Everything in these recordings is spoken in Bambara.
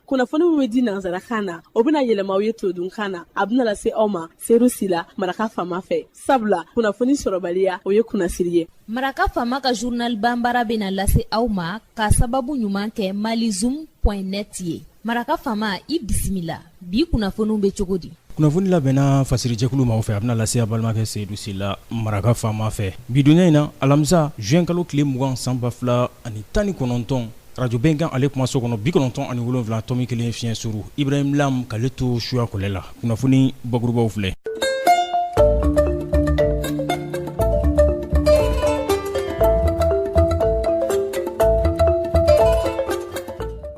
kunnafoni min bɛ di nansarakan na o bɛna yɛlɛma aw ye todunkan na a bɛna lase aw ma seyidu sila maraka fama fɛ sabula kunnafoni sɔrɔbaliya o ye kunnasiri ye maraka fama ka journal bambara bɛna lase aw ma k'a sababu ɲuman kɛ malizoom point net ye maraka fama i bisimila bi kunnafoniw bɛ cogo di kunnafoni labɛnna fasiri jɛkulu maaw fɛ a bɛna lase aw balimakɛ seyidu sila maraka fama fɛ bi donya in na alamisa zuwɛnkalo tile mugan san ba fila ani tan ni kɔnɔntɔn arajo bɛnkan ale kumaso kɔnɔ bi kɔnɔntɔn ani wolonwula tɔmi kelen fiɲɛ suru ibrahim lam k'ale to suyakɔlɛ la kunnafoni bakurubaw filɛ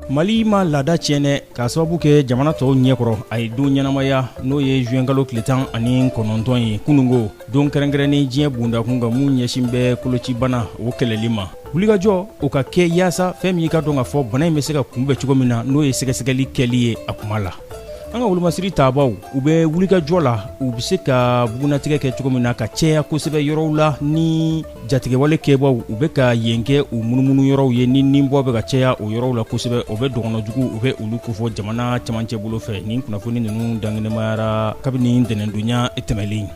Mali ma laada tiɲɛ dɛ k'a sababu kɛ jamana tɔw ɲɛkɔrɔ a ye don ɲɛnamaya n'o ye zuwɛnkalo tile tan ani kɔnɔntɔn ye kununko don kɛrɛnkɛrɛnnen diɲɛ bundakun kan min ɲɛsin bɛ kolocibana o kɛlɛli ma wulikajɔ o ka kɛ yaasa fɛn min i k'a dɔn k'a fɔ bana in bɛ se ka kunbɛn cogo min na n'o ye sɛgɛsɛgɛli kɛli ye a kuma la an ka wolomasiri tabaaw u bɛ wulikajɔ la u bɛ se ka bugunatigɛ kɛ cogo min na ka cɛya kosɛbɛ yɔrɔw la ni jatigɛwale kɛbaaw u bɛ ka yen kɛ u munumunu yɔrɔw ye ni ninbɔ bɛ ka cɛya o yɔrɔw la kosɛbɛ o bɛ dɔgɔnɔjugu u bɛ olu kofɔ jamana camancɛ bolo fɛ ni kunnafoni ninnu dankenemayara kabini ntɛnɛndonya tɛmɛlen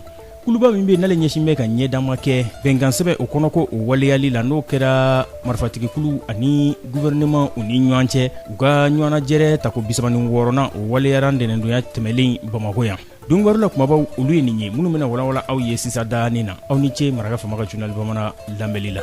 kuluba min bɛ yen n'ale ɲɛsin bɛ ka ɲɛdama kɛ bɛnkansɛbɛn o kɔnɔko o waleyali la n'o kɛra marifatigikuluw ani guvɛrɛnɛman u ni ɲɔgɔn cɛ u ka ɲɔgɔnnajɛrɛ tako bi saba ni wɔɔrɔnan o waleyara ntɛnɛndonya tɛmɛlen bamakɔ yan don kibaru la kumabaw olu ye nin ye minnu bɛna walawala aw ye sisan daanin na aw ni ce maraka fama ka journal bamanan lamɛnli la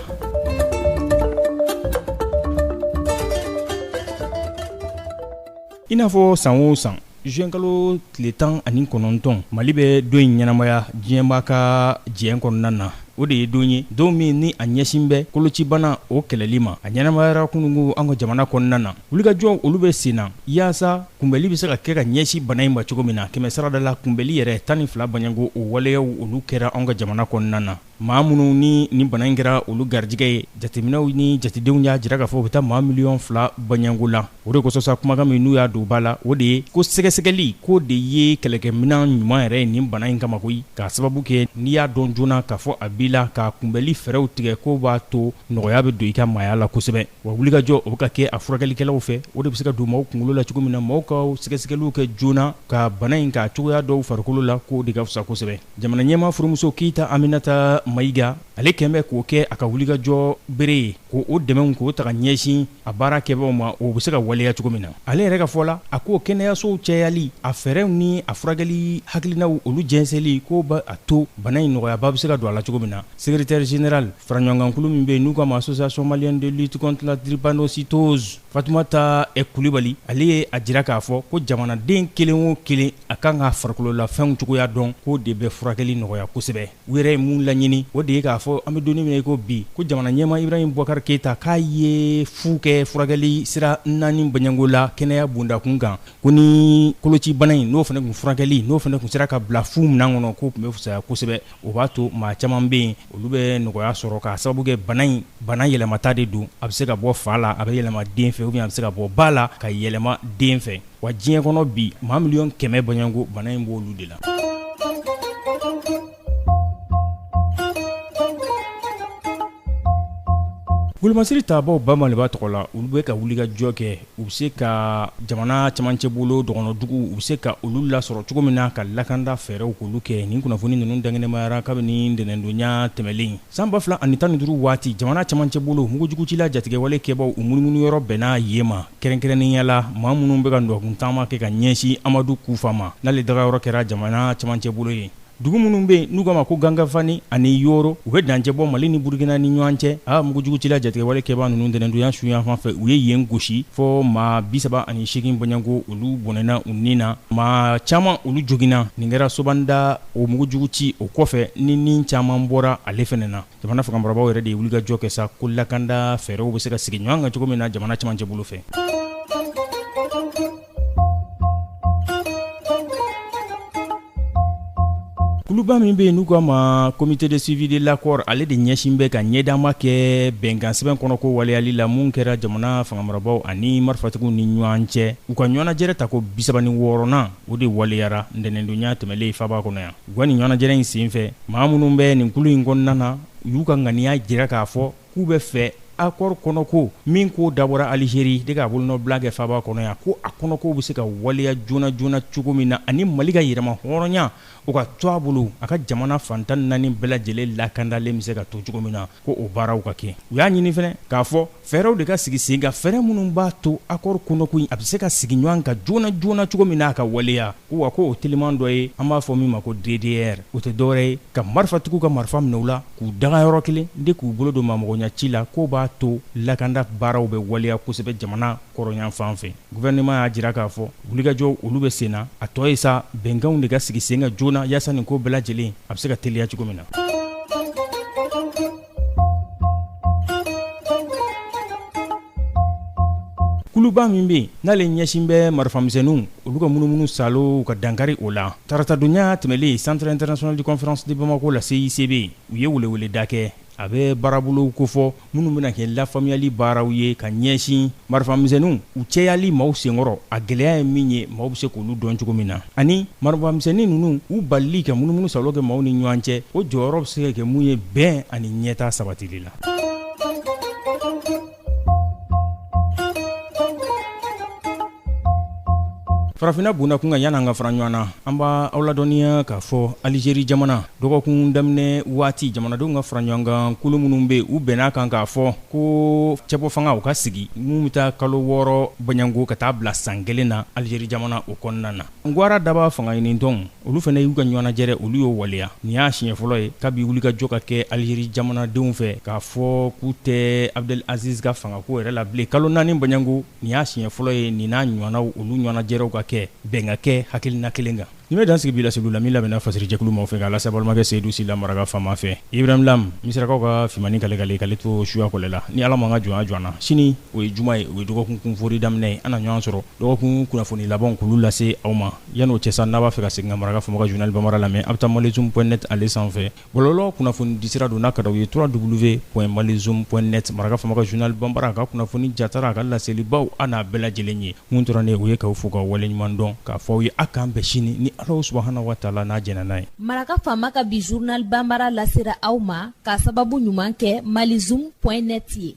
i n'a fɔ san o san zuwɛnkalo tile tan ani kɔnɔntɔn mali bɛ don in ɲɛnamaya diɲɛba ka diɲɛ kɔnɔna na o de ye don ye don min ni a ɲɛsin bɛ kolocibana o kɛlɛli ma a ɲɛnamayara kununko an ka jamana kɔnɔna na wulikajɔw olu bɛ sen na yaasa kunbɛli bɛ se ka kɛ ka ɲɛsin bana in ma cogo min na kɛmɛ sarada la kunbɛli yɛrɛ tan ni fila baɲɛko o waleyaw olu kɛra anw ka jamana kɔnɔna na maa minnu ni nin bana in kɛra olu garijɛgɛ ye jateminɛw ni jatedenw y'a jira k'a fɔ u bɛ taa maa miliyɔn fila baɲɛko la o de kosɔn sa kumakan min n'u y'a don ba la o de ye ko sɛgɛsɛgɛli k'o de ye kɛlɛkɛminɛn ɲuman yɛrɛ ye nin bana in kama koyi k'a sababu kɛ n'i y'a dɔn joona k'a fɔ a b'i la ka kunbɛli fɛɛrɛw tigɛ k'o b'a to nɔgɔya bɛ don i ka maaya la kosɛbɛ wa wulikajɔ o bɛ ka kɛ a furakɛlikɛlaw fɛ o de bɛ se ka don maaw kunkolo la cogo min na maaw ka sɛgɛsɛgɛliw kɛ joona ka bana in ka cogoya dɔn u farikolo la k'o de ka fisa kosɛbɛ jamana ɲɛmaa furumuso keyita aminata mayiga ale kɛn bɛ k'o kɛ a ka wulikajɔ bere ye ko o dɛmɛw k'o ta ka ɲɛsin a baara kɛbaaw ma o bɛ se ka waleya cogo min na ale yɛrɛ ka fɔ la a ko kɛnɛyasow cɛyali a fɛɛrɛw ni a furakɛli hakilinaw olu jɛnsɛnli k'o b'a to bana in nɔgɔyaba bɛ se ka don a la cogo min na Secrétaire général faraɲɔgɔnkankulu min bɛ yen n'u ka ma association malienne de lutte contre la drépanocytose fatumata ɛ kulibali ale ye a jira k'a fɔ ko jamanaden kelen o kelen a kan ka farikololafɛnw cogoya dɔn k'o de bɛ furakɛli nɔgɔya kosɛbɛ u yɛrɛ ye min laɲini o de ye k'a fɔ an bɛ don min na i ko bi ko jamana ɲɛmaa ibrahima bubakari keyita k'a ye fu kɛ furakɛli sira naani bɔɲɔgɔnko la kɛnɛya bondakun kan ko ni kolocibana in n'o fana kun furakɛli n'o fana kun sera ka bila fu minan kɔnɔ k'o tun bɛ fisaya kosɛbɛ o b'a to maa caman bɛ yen olu bɛ nɔgɔya sɔrɔ k'a sababu kɛ bana in bana yɛlɛmata de don a bɛ se ka bɔ fa la a bɛ yɛlɛma den fɛ ou bien a bɛ se ka bɔ ba la ka yɛlɛma den fɛ wa diɲɛ kɔnɔ bi maa miliyɔn kɛmɛ bɔɲɔgɔnko bana in b'olu de la wolomasiri tabaaw ba maliba tɔgɔ la olu bɛ ka wulikajɔ kɛ u bɛ se ka jamana camancɛ bolo dɔgɔnɔduguw u bɛ se ka olu lasɔrɔ cogo min na ka lakanda fɛɛrɛw k'olu kɛ nin kunnafoni ninnu dankɛnɛmayara kabini ntɛnɛndonnya tɛmɛnlen san ba fila ani tan ni duuru waati jamana camancɛ bolo mugujugucila jatigɛwale kɛbaaw u munumunu yɔrɔ bɛnna yen ma kɛrɛnkɛrɛnnenya la maa minnu bɛ ka nɔngɔnkuntaama kɛ ka ɲɛsin amadu kufa ma n'ale dagayɔrɔ kɛra jamana camancɛ bolo ye Dugu minnu bɛ yen n'u k'a ma ko gangafani ani yoro u bɛ dancɛ bɔ mali ni burukina ni ɲɔgɔn cɛ a mugujugucila jatigɛwale kɛbaa ninnu ntɛnɛndonya su yanfan fɛ u ye yen gosi fɔ maa bisaba ani segin bɔɲɔgɔnko olu bɔnɛna u ni na maa caman olu joginna nin kɛra sobanda o mugujugu ci o kɔfɛ ni ni caman bɔra ale fɛnɛ na jamana fangamarabaaw yɛrɛ de ye wulikajɔ kɛ sa ko lakanda fɛɛrɛw bɛ se ka sigi ɲɔgɔn kan cogo min na jamana camancɛ bolo fɛ kuluba min bɛ yen n'u k'a ma comité de suivi de l'accord ale de ɲɛsin bɛ ka ɲɛdaama kɛ bɛnkansɛbɛn kɔnɔko waleyali la mun kɛra jamana fangamarabaaw ani marifatigiw ni ɲɔgɔn cɛ u ka ɲɔgɔnnajɛrɛ tako bisaba ni wɔɔrɔnan o de waleyara ntɛnɛndonya tɛmɛlen faaba kɔnɔ yan u ka nin ɲɔgɔnnajɛrɛ in senfɛ maa minnu bɛ nin kulu in kɔnɔna na u y'u ka ŋaniya jira k'a fɔ k'u bɛ fɛ akɔri kɔnɔko min k'o dabɔra alizeri de k'a bolonɔbila kɛ faaba kɔnɔ yan ko a kɔnɔko bɛ se ka waleya joona joona cogo min na ani mali ka yɛrɛmahɔrɔnya o ka to a bolo a ka jamana fan tan naani bɛɛ lajɛlen lakandalen bɛ se ka to cogo min na ko o baaraw ka kɛ u y'a ɲini fɛnɛ k'a fɔ fɛɛrɛw de ka sigi sen kan fɛɛrɛ minnu b'a to akɔri kɔnɔko in a bɛ se ka sigi ɲɔgɔn kan joona joona cogo min na a ka waleya ko wa ko o teliman dɔ ye an b'a fɔ min ma ko ddr o tɛ dɔwɛrɛ ye ka marifatigiw ka marifa minɛ u la k'u daga yɔrɔ kelen de k'u bolo don ma mɔgɔya ci la k'o b'a to lakanda baaraw bɛ waleya kosɛbɛ jamana kɔrɔnyanfan fɛ gouvernement y'a jira k'a fɔ wulikajɔw olu bɛ sen na a tɔ ye sa bɛnkanw de ka sigi sen kan joona yaasa nin ko bɛɛ lajɛlen a bɛ se ka teliya cogo min na kuluba min bɛ yen n'ale ɲɛsin bɛ marifamisɛnninw olu ka munumunu salo ka dankari o la taratadonya tɛmɛlen centre international de conférence de bamako la CICB u ye weleweleda kɛ a bɛ baarabolow kofɔ minnu bɛna kɛ lafaamuyali baaraw ye ka ɲɛsin marifamisɛnninw u cɛyali maaw senkɔrɔ a gɛlɛya ye min ye maaw bɛ se k'olu dɔn cogo min na ani marifamisɛnnin ninnu u balili ka munumunu salo kɛ maaw ni ɲɔgɔn cɛ o jɔyɔrɔ bɛ se ka kɛ mun ye bɛn ani ɲɛtaa sabatili la farafinna bonda kun kan yan an ka fara ɲɔgɔn na an b' aw ladɔnniya k'a fɔ alizeri jamana dɔgɔkun daminɛ waati jamanadenw ka fara ɲɔgɔnkan kulu minnu bɛ u bɛn'a kan k'a fɔ ko cɛbɔ fanga o ka sigi min bɛ taa kalo wɔɔrɔ bɔɲɔgɔnko ka taa bila san kelen na alizeri jamana o kɔnɔna na Ngwara daba fanga ɲinitɔn olu fana y'u ka ɲɔgɔnnajɛrɛ olu y'o waleya nin y'a siɲɛ fɔlɔ ye kabi wulikajɔ ka kɛ alizeri jamanadenw fɛ k'a fɔ k'u tɛ abdel aziz ka fangako yɛrɛ la bilen kalo naani bɔɲɔgɔnko nin y'a siɲɛ fɔlɔ ye nin n'a ɲɔgɔnnaw olu ɲɔgɔnnajɛrɛw ka kɛ bɛn ka kɛ hakilina kelen kan nin bɛ dan sigi bi laseli la min labɛnna fasiri jɛkulu maaw fɛ k'a lase balimakɛ seydou sila maraka faama fɛ ibrahim lam misirakaw ka fiman kalekale kale to suya kɔlɛ la ni ala ma ka jɔn jɔ na sini o ye juma ye o ye dɔgɔkun foori daminɛ ye an na ɲɔgɔn sɔrɔ Dɔgɔkun kunnafoni labanw k'olu lase aw ma yan'o cɛ san n'a b'a fɛ ka segin ka maraka faama ka journal bambara lamɛn aw bɛ taa malizoom point net ale sanfɛ bɔlɔlɔ kunnafoni disira don n'a ka daw ye trois double v point malizoom point net maraka faama ka journal bambara a ka kunnafoni jatara a ka laselibaw an n'a bɛɛ lajɛlen ye mun tora ne o ye k'aw fo ka waleɲuman dɔn k'a fɔ aw ye aw k'an bɛn sini ni ala subhana wa taala n'a jɛnna n'a ye maraka faama ka bi journal bambara lasera aw ma k'a sababu ɲuman kɛ malizoom point net ye